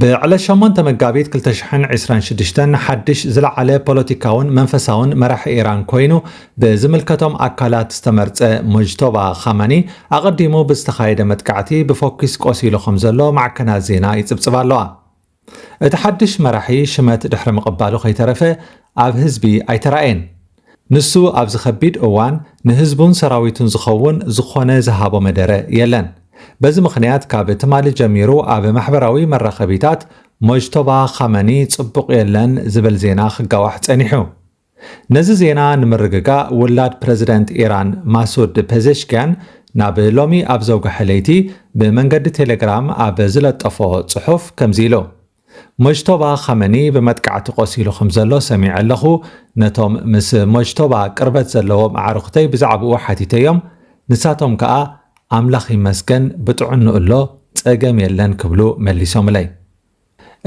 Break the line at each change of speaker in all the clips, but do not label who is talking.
ብዕለት
ሸሞንተ መጋቢት ክልተ ሽሕን ዕስራን ሽዱሽተን ሓድሽ ዝለዓለ ፖለቲካውን መንፈሳውን መራሒ ኢራን ኮይኑ ብዝምልከቶም ኣካላት ዝተመርጸ ሙጅቶባ ኻመኒ ኣቐዲሙ ብዝተኻየደ መጥቃዕቲ ብፎኪስ ቆሲሉ ከምዘሎ ማዕከናት ዜና ይጽብጽባ ኣለዋ። እቲ ሓድሽ መራሒ ሽመት ድሕሪ ምቕባሉ ከይተረፈ ኣብ ህዝቢ ኣይተራእየን። ንሱ ኣብዚ ከቢድ እዋን ንህዝቡን ሰራዊቱን ዝኸውን ዝኾነ ዝሃቦ መደረ የለን። በዚ ምኽንያት ካብ ትማሊ ጀሚሩ ኣብ ማሕበራዊ መራኸቢታት ሞጅቶባ ኻመኒ ጽቡቕ የለን ዝብል ዜና ክጋዋሕ ጸኒሑ። ነዚ ዜና ንምርግጋእ ውላድ ፕረዚደንት ኢራን ማሱድ ፐዜሽክያን ናብ ሎሚ ኣብ ዘውግሐ ለይቲ ብመንገዲ ቴሌግራም ኣብ ዝለጠፎ ጽሑፍ ከምዚ ኢሉ። ሞጅቶባ ኻመኒ ብመጥቃዕቲ ቈሲሉ ኸም ዘሎ ሰሚዐ ኣለኹ። ነቶም ምስ ሞጅቶባ ቅርበት ዘለዎም ኣዕሩኽተይ ብዛዕባኡ ሓቲተዮም፣ ንሳቶም ከኣ፣ ኣምላኽ ይመስገን፣ ብጥዕንኡ ኣሎ፣ ጸገም የለን ክብሉ መሊሶምለይ።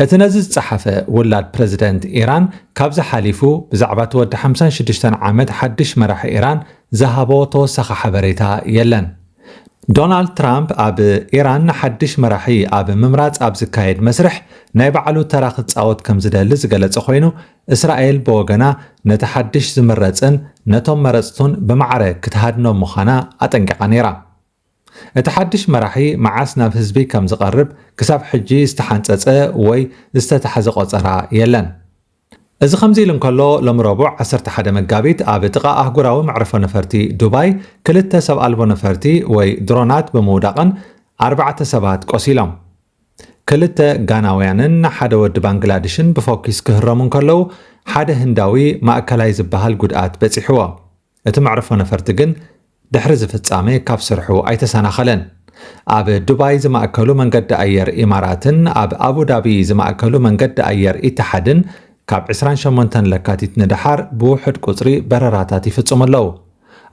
እቲ ነዚ ዝጸሓፈ ውላድ ፕረዚደንት ኢራን፣ ካብዚ ሓሊፉ ብዛዕባ እቲ ወዲ ሓምሳን ሽዱሽተን ዓመት ሓድሽ መራሒ ኢራን ዝሃቦ ተወሳኺ ሓበሬታ የለን። ዶናልድ ትራምፕ ኣብ ኢራን ሓድሽ መራሒ ኣብ ምምራጽ ኣብ ዝካየድ መስርሕ ናይ ባዕሉ ተራ ክጻወት ከም ዝደሊ ዝገለጸ ኮይኑ፣ እስራኤል ብወገና ነቲ ሓድሽ ዝምረጽን ነቶም መረጽቱን ብማዕረ ክትሃድኖም ምዃና ኣጠንቂቓ ነይራ። እቲ ሓድሽ መራሒ መዓስ ናብ ህዝቢ ከም ዝቐርብ ክሳብ ሕጂ ዝተሓንጸጸ ወይ ዝተታሕዘ ቆጸራ የለን። እዚ ከምዚ ኢሉ እንከሎ፣ ሎሚ ረቡዕ ዓሰርተ ሓደ መጋቢት ኣብ ጥቓ ኣህጉራዊ መዕርፎ ነፈርቲ ዱባይ ክልተ ሰብ ኣልቦ ነፈርቲ ወይ ድሮናት ብምውዳቐን ኣርባዕተ ሰባት ቆሲሎም። ክልተ ጋናውያንን ሓደ ወዲ ባንግላድሽን ብፎኪስ ክህረሙ እንከለዉ፣ ሓደ ህንዳዊ ማእከላይ ዝበሃል ጉድኣት በጺሕዎ። እቲ መዕርፎ ነፈርቲ ግን ድሕሪ እዚ ፍጻመ ካብ ስርሑ ኣይተሰናኸለን። ኣብ ዱባይ ዝማእከሉ መንገዲ ኣየር ኢማራትን ኣብ ኣቡዳቢ ዝማእከሉ መንገዲ ኣየር ኢትሓድን ካብ ዕስራን ሸሞንተን ለካቲት ንደሓር ብውሑድ ቁጽሪ በረራታት ይፍጽሙ ኣለዉ።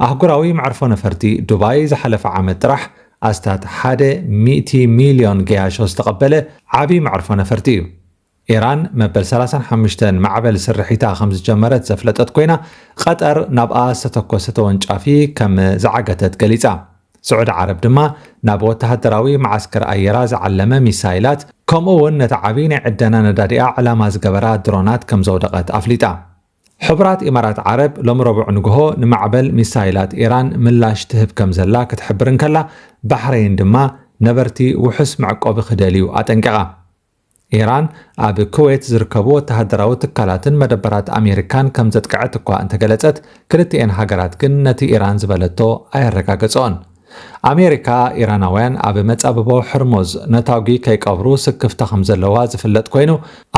ኣህጉራዊ መዕርፎ ነፈርቲ ዱባይ ዝሓለፈ ዓመት ጥራሕ ኣስታት ሓደ ሚእቲ ሚልዮን ገያሾ ዝተቐበለ ዓቢ መዕርፎ ነፈርቲ እዩ። ኢራን መበል ሰላሳን ሓሙሽተን ማዕበል ስርሒታ ከም ዝጀመረት ዘፍለጠት ኮይና፣ ቐጠር ናብኣ ዝተተኮሰ ተወንጫፊ ከም ዝዓገተት ገሊጻ። ስዑዲ ዓረብ ድማ ናብ ወተሃደራዊ መዓስከር ኣየራ ዝዓለመ ሚሳይላት ከምኡ'ውን ነቲ ዓቢ ናይ ዕደና ነዳዲኣ ዕላማ ዝገበራ ድሮናት ከም ዘውደቐት ኣፍሊጣ። ሕቡራት ኢማራት ዓረብ ሎሚ ረቡዕ ንግሆ ንማዕበል ሚሳይላት ኢራን ምላሽ ትህብ ከም ዘላ ክትሕብር እንከላ፣ ባሕረይን ድማ ነበርቲ ውሑስ መዕቆቢ ክደልዩ ኣጠንቂቓ። ኢራን ኣብ ኩዌት ዝርከቡ ወተሃደራዊ ትካላትን መደበራት ኣሜሪካን ከም ዘጥቅዐት እኳ እንተገለጸት፣ ክልቲኤን ሃገራት ግን ነቲ ኢራን ዝበለቶ ኣየረጋገጸኦን። ኣሜሪካ፣ ኢራናውያን ኣብ መጻብቦ ሕርሙዝ ነታጒ ከይቀብሩ ስክፍታ ከም ዘለዋ ዝፍለጥ ኰይኑ፣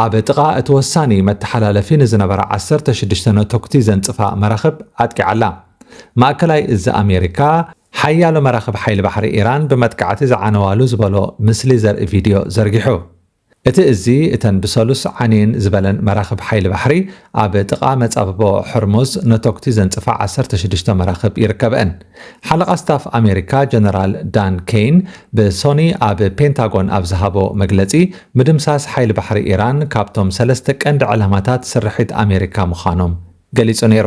ኣብ ጥቓ እቲ ወሳኒ መተሓላለፊ ንዝነበራ ዓሰርተ ሽዱሽተ ነቶግቲ ዘንጽፋ መራኽብ ኣጥቂዓ ኣላ። ማእከላይ እዝ ኣሜሪካ፣ ሓያሎ መራኽብ ሓይሊ ባሕሪ ኢራን ብመጥቃዕቲ ዝዓነዋሉ ዝበሎ ምስሊ ዘርኢ ቪድዮ ዘርጊሑ። እቲ እዚ፣ እተን ብሰሉስ ዓንየን ዝበለን መራኽብ ሓይሊ ባሕሪ፣ ኣብ ጥቓ መጻብቦ ሖርሙዝ ነቶጕቲ ዘንጽፋ ዓሰርተ ሽዱሽተ መራኽብ ይርከብኣን። ሓለቓ ስታፍ ኣሜሪካ ጀነራል ዳን ኬይን ብሶኒ ኣብ ፔንታጎን ኣብ ዝሃቦ መግለጺ፣ ምድምሳስ ሓይሊ ባሕሪ ኢራን ካብቶም ሰለስተ ቀንዲ ዕላማታት ስርሒት ኣሜሪካ ምዃኖም ገሊጹ ነይሩ።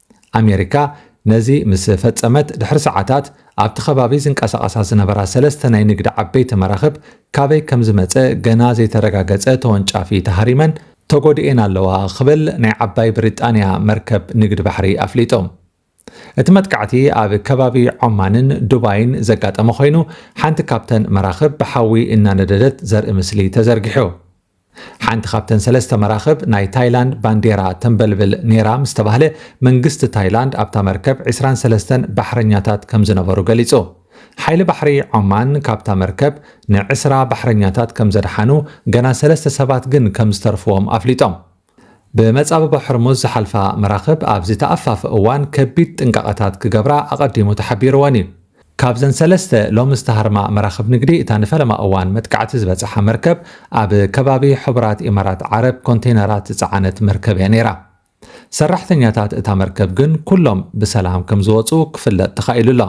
ኣሜሪካ ነዚ ምስ ፈጸመት ድሕሪ ሰዓታት፣ ኣብቲ ከባቢ ዝንቀሳቐሳ ዝነበራ ሰለስተ ናይ ንግዲ ዓበይቲ መራኽብ ካበይ ከም ዝመጸ ገና ዘይተረጋገጸ ተወንጫፊ ተሃሪመን ተጎዲኤን ኣለዋ ክብል ናይ ዓባይ ብሪጣንያ መርከብ ንግዲ ባሕሪ ኣፍሊጡ። እቲ መጥቃዕቲ ኣብ ከባቢ ዖማንን ዱባይን ዘጋጠመ ኮይኑ፣ ሓንቲ ካብተን መራኽብ ብሓዊ እናነደደት ዘርኢ ምስሊ ተዘርጊሑ። ሓንቲ ካብተን ሰለስተ መራኽብ ናይ ታይላንድ ባንዴራ ተንበልብል ነይራ ምስ ተባህለ፣ መንግስቲ ታይላንድ ኣብታ መርከብ ዕስራን ሰለስተን ባሕረኛታት ከም ዝነበሩ ገሊጹ። ሓይሊ ባሕሪ ዖማን ካብታ መርከብ ንዕስራ ባሕረኛታት ከም ዘድሓኑ፣ ገና ሰለስተ ሰባት ግን ከም ዝተርፉዎም ኣፍሊጦም። ብመጻብቦ ሕርሙዝ ዝሓልፋ መራኽብ ኣብዚ ተኣፋፊ እዋን ከቢድ ጥንቃቐታት ክገብራ ኣቐዲሙ ተሓቢሩወን እዩ። ካብዘን ሰለስተ ሎሚ ዝተሃርማ መራኽብ ንግዲ እታ ንፈለማ እዋን መጥቃዕቲ ዝበጽሓ መርከብ ኣብ ከባቢ ሕቡራት ኢማራት ዓረብ ኮንተይነራት ዝጸዓነት መርከብ እያ ነይራ። ሰራሕተኛታት እታ መርከብ ግን ኩሎም ብሰላም ከምዝወጹ ክፍለጥ ተኻኢሉ ኣሎ።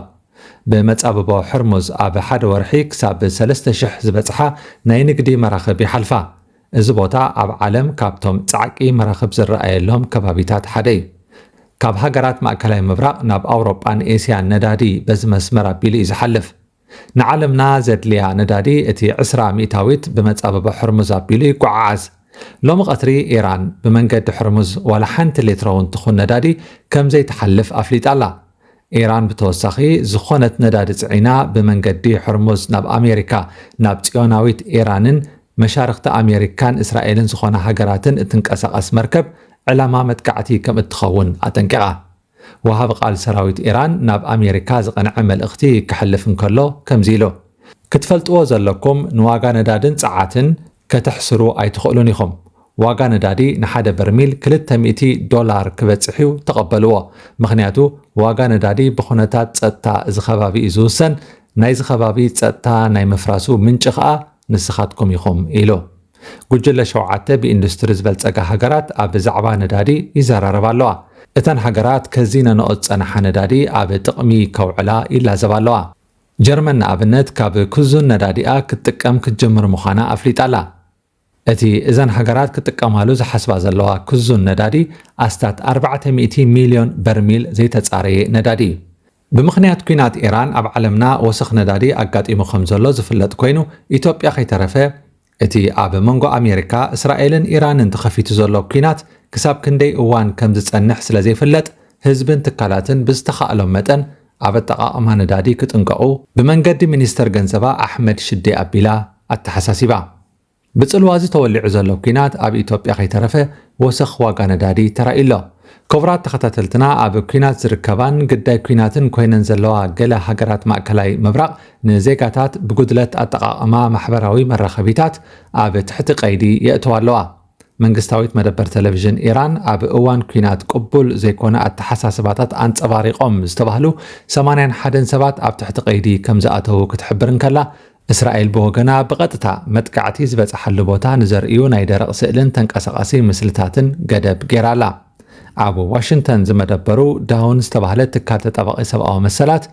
ብመጻብቦ ሕርሙዝ ኣብ ሓደ ወርሒ ክሳብ ሰለስተ ሽሕ ዝበጽሓ ናይ ንግዲ መራኽብ ይሓልፋ። እዚ ቦታ ኣብ ዓለም ካብቶም ጻዕቂ መራኽብ ዝረኣየሎም ከባቢታት ሓደ እዩ። ካብ ሃገራት ማእከላይ ምብራቕ ናብ ኣውሮጳን ኤስያን ነዳዲ በዚ መስመር ኣቢሉ እዩ ዝሓልፍ። ንዓለምና ዘድልያ ነዳዲ እቲ ዕስራ ሚእታዊት ብመጻብቦ ሕርሙዝ ኣቢሉ ይጎዓዓዝ። ሎሚ ቀትሪ ኢራን ብመንገዲ ሕርሙዝ ዋላ ሓንቲ ሌትሮ'ውን ትኹን ነዳዲ ከምዘይትሓልፍ ኣፍሊጣ ኣላ። ኢራን ብተወሳኺ ዝኾነት ነዳዲ ጽዒና ብመንገዲ ሕርሙዝ ናብ ኣሜሪካ፣ ናብ ጽዮናዊት ኢራንን መሻርኽቲ ኣሜሪካን እስራኤልን ዝኾና ሃገራትን እትንቀሳቐስ መርከብ ዕላማ መጥቃዕቲ ከምእትኸውን ኣጠንቂቓ። ወሃቢ ቃል ሰራዊት ኢራን ናብ ኣሜሪካ ዝቐንዐ መልእኽቲ ከሕልፍ እንከሎ ከምዚ ኢሉ፣ ክትፈልጥዎ ዘለኩም ንዋጋ ነዳድን ጸዓትን ከተሕስሩ ኣይትኽእሉን ኢኹም። ዋጋ ነዳዲ ንሓደ በርሚል ክልተ ሚእቲ ዶላር ክበጽሕ'ዩ ተቐበልዎ። ምኽንያቱ ዋጋ ነዳዲ ብኹነታት ጸጥታ እዚ ከባቢ እዩ ዝውሰን፣ ናይዚ ከባቢ ጸጥታ ናይ ምፍራሱ ምንጪ ከኣ ንስኻትኩም ኢኹም ኢሉ። ጉጅለ ሸውዓተ ብኢንዱስትሪ ዝበልጸጋ ሃገራት ኣብ ዛዕባ ነዳዲ ይዘራረባ ኣለዋ። እተን ሃገራት ከዚነንኦ ዝጸንሓ ነዳዲ ኣብ ጥቕሚ ከውዕላ ይላዘባ ኣለዋ። ጀርመን ንኣብነት ካብ ክዙን ነዳዲኣ ክትጥቀም ክትጅምር ምዃና ኣፍሊጣ ኣላ። እቲ እዘን ሃገራት ክጥቀማሉ ዝሓስባ ዘለዋ ክዙን ነዳዲ ኣስታት ኣርባዕተ ሚእቲ ሚልዮን በርሚል ዘይተጻረየ ነዳዲ እዩ። ብምኽንያት ኲናት ኢራን ኣብ ዓለምና ወሰኽ ነዳዲ ኣጋጢሙ ከምዘሎ ዝፍለጥ ኮይኑ ኢትዮጵያ ከይተረፈ እቲ ኣብ መንጎ ኣሜሪካ፣ እስራኤልን ኢራንን ተኸፊቱ ዘሎ ኲናት ክሳብ ክንደይ እዋን ከም ዝጸንሕ ስለ ዘይፍለጥ፣ ህዝብን ትካላትን ብዝተኻእሎም መጠን ኣብ ኣጠቓቕማ ነዳዲ ክጥንቀቑ፣ ብመንገዲ ሚኒስተር ገንዘባ ኣሕመድ ሽዴ ኣቢላ ኣተሓሳሲባ። ብጽልዋ'ዚ ተወሊዑ ዘሎ ኲናት ኣብ ኢትዮጵያ ከይተረፈ ወሰኽ ዋጋ ነዳዲ ተራእዩ ኣሎ። ክቡራት ተኸታተልትና ኣብ ኲናት ዝርከባን ግዳይ ኲናትን ኮይነን ዘለዋ ገለ ሃገራት ማእከላይ ምብራቕ፣ ንዜጋታት ብጉድለት ኣጠቓቕማ ማሕበራዊ መራኸቢታት ኣብ ትሕቲ ቀይዲ የእተዋ ኣለዋ። መንግስታዊት መደበር ተለቪዥን ኢራን ኣብ እዋን ኲናት ቅቡል ዘይኮነ ኣተሓሳስባታት ኣንጸባሪቖም ዝተባህሉ ሰማንያን ሓደን ሰባት ኣብ ትሕቲ ቀይዲ ከም ዝኣተዉ ክትሕብር እንከላ፣ እስራኤል ብወገና ብቐጥታ መጥቃዕቲ ዝበጽሓሉ ቦታ ንዘርእዩ ናይ ደረቕ ስእልን ተንቀሳቓሲ ምስልታትን ገደብ ገይራ ኣላ። ኣብ ዋሽንግተን ዝመደበሩ ዳውን ዝተባህለ ትካል ተጣባቒ ሰብኣዊ መሰላት፣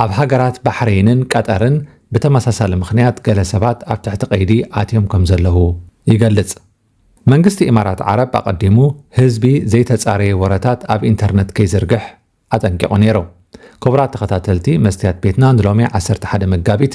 ኣብ ሃገራት ባሕሬንን ቀጠርን ብተመሳሳሊ ምኽንያት ገለ ሰባት ኣብ ትሕቲ ቀይዲ ኣትዮም ከምዘለዉ ይገልጽ። መንግስቲ ኢማራት ዓረብ ኣቐዲሙ ህዝቢ ዘይተጻረየ ወረታት ኣብ ኢንተርነት ከይዝርግሕ ኣጠንቂቑ ነይሩ። ክቡራት ተኸታተልቲ መስትያት ቤትና ንሎሚ ዓሰርተ ሓደ መጋቢት